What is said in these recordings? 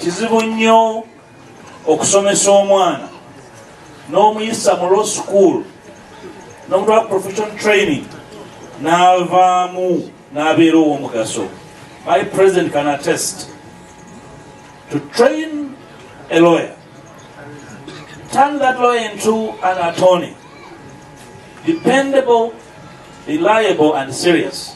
kizibu nnyo okusomesa omwana n'omuyisa mu law school n'omutuwa profession training n'avaamu n'abeera ow'omugaso my president can attest to train a lawyer turn that lawyer into an attorney dependable reliable and serious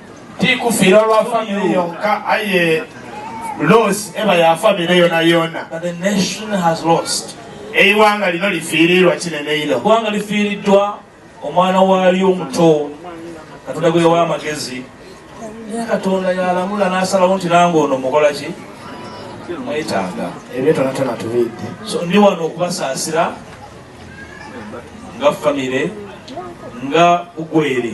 tikufira lwa family yonka aye loss eba ya family yona yona that the nation has lost eiwanga lino lifiirirwa kinene ino gwanga lifiiriddwa omwana waalyo omuto katonda gwe yawa amagezi naye katonda yalamula n'asalawo nti nange ono mukola ki mwetaaga ebyo tonatona tubidde so ndi wano okubasaasira nga famire nga ugwere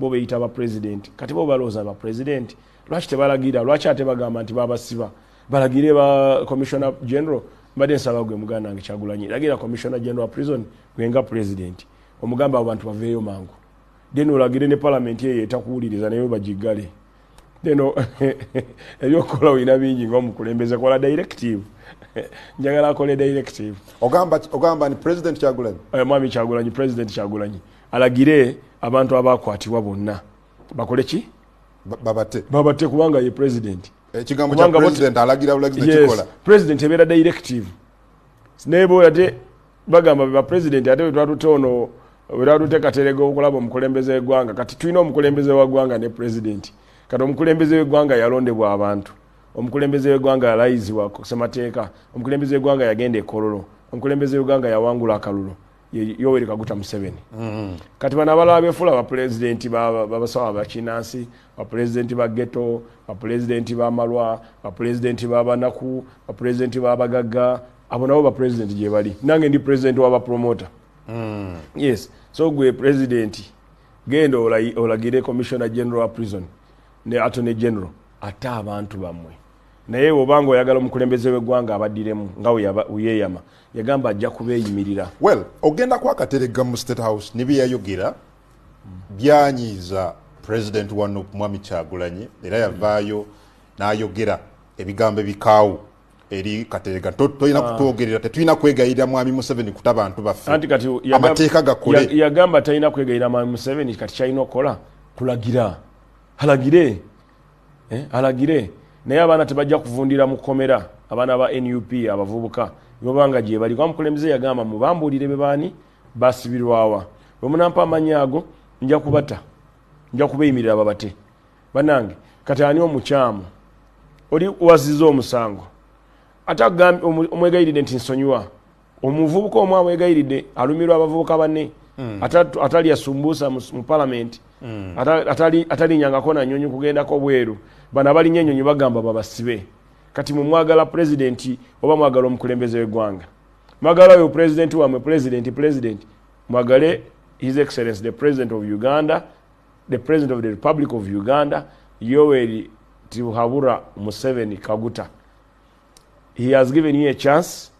bo beyita ba president kati bo baloza ba president lwaki tebalagira lwaki ate bagamba nti babasiba balagire ba commissioner general mbadde nsaba gwe muganda wange kyagulanyi lagira commissioner general prison gwenga president omugamba abo bantu baveeyo mangu then olagire ne parliament eyo etakuwuliriza naye bagiggale then ebyokukola olina bingi ngaomukulembeze kola directive njagala akole directive ogamba ogamba ni president kyagulanyi eh, mwami kyagulanyi president kyagulanyi alagire abantu abakwatibwa bonna bakole ki babate babate kubanga ye president ekigambo kya president alagira bulagizi nekikola president ebeera directive naye bo ate bagamba ba president ate wetwatute ono wetwatute katerega okulaba omukulembeze wegwanga kati tulina omukulembeze wagwanga ne president kati omukulembeze wegwanga yalondebwa abantu omukulembeze wegwanga yalayizibwa kusemateeka omukulembeze wegwanga yagenda ekololo omukulembeze wegwanga yawangula akalulu yoweri kaguta museveni mm-hmm. kati bano abalala befuula bapulezidenti babasawa bakinansi bapulezidenti ba geto bapulezidenti bamalwa bapulezidenti babanaku bapulezidenti babagagga abo nabo bapulezidenti gyebali nange ndi pulezidenti wabapromota mm. yes so gwe pulezidenti genda olagire commissioner general prison ne attorney general ate abantu bamwe naye obanga oyagala omukulembeze wegwanga abadiremu nga uyeyama yagamba ajja kubeeyimirira well ogenda kwakateregga mu state house nebyeyayogera byanyiiza president wa nup mwami kyagulanyi era yavaayo n'ayogera ebigambo ebikaawo eri katerega tolina ah. kutwogerera tetulina kwegayirira mwami museveni kuta bantu baffe amateeka gakole yagamba talina kwegayirira mwami museveni kati kyalina okukola kulagira alagire eh, alagire naye abaana tebajja kuvundira mu kkomera abaana ba nup abavubuka bwebabanga gyebali kuba mukulembeze yagamba mubambuulire bebaani basibirwawa bwemunampa amanyi ago nja kubata nja kubeyimirira babate banange kati ani omukyamu oli waziza omusango ate omwegayiride nti nsonyiwa omuvubuka omu amwegayiridde alumirwa abavubuka banne hmm. atalya sumbuusa mu palamenti hmm. atalinyangako nanyonyi kugendako bweru bano abalinya enyonyi bagamba babasibe kati mumwagala pulezidenti oba mwagala omukulembeze wegwanga mwagala oyo pulezidenti wamwe pulezidenti pulezidenti mwagale his excellence the president of uganda the president of the republic of uganda yoweri tibuhabura museveni kaguta he has given you a chance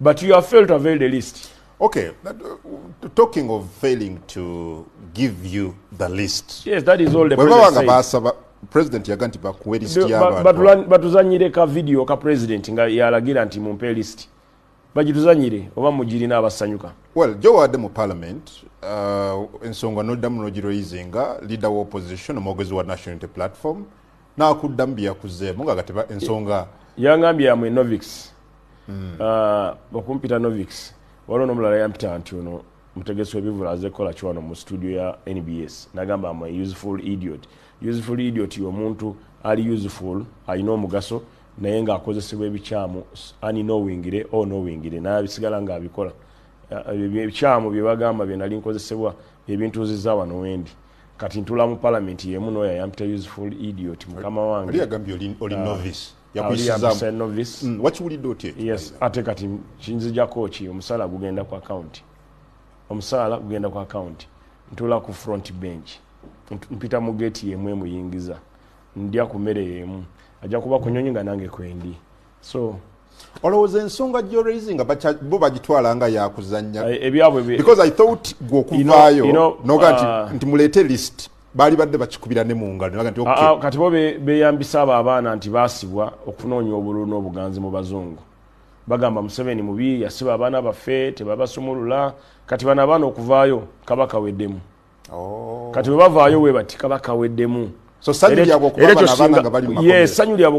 but you have failed to avail the list okay but, uh, talking of failing to give you the list yes that is all the president said basaba president yaga nti bakuwe list y'abantu batuzanyire ka video ka president nga yalagira nti mumpe list bagituzanyire oba mugirina abasanyuka well jowaadde mu parliament uh, ensonga noddamu nogiroyizinga leader wa opposition omwogezi wa national unity platform nakuddamu byeyakuzzeemu nga gati ensonga yangambye yamwe novix hmm. ah, okumpita novix waliwo nomulala yampita nti ono mutegesi webivula aze kukola kiwano mu studio ya nbs nagamba am useful idiot useful idiot yomuntu ali useful alina omugaso naye ngaakozesebwa ebikyamu ani nowingire o oh, nowingire naye abisigala nga abikola ah, ebikyamu byebagamba byenali nkozesebwa byebintuziza wano wendi kati ntula mu parliament yemu noyo ayampita useful idiot mukama wange ali agambye oli oli ah, novice yakuyisiza novice mm, wakiwulidde otya yes ate kati kinzijako ki omusala gugenda ku account omusala gugenda ku account ntula ku front bench mpita mu gate yemu emuyingiza ndya ku mere yemu ajja kuba kunyonyi nga nange kwendi so olowooza ensonga gyoraisinga bo bagitwala nga yakuzanya eh, because i thought gwe okuvaayo noga nti ah. nti muleete list baali badde bakikubira ne mungalo nti ah, ah, kati bo beyambisa abo abaana nti basibwa okunoonya obululu n'obuganzi mu bazungu bagamba museveni mubi yasiba abaana baffe tebabasumulula kati bano abaana okuvaayo kaba kaweddemu oh. kati bwebavaayo webati kaba kaweddemu so sanyu lyabwe okuba abana abana nga bali mu makomera yes sanyu lyabwe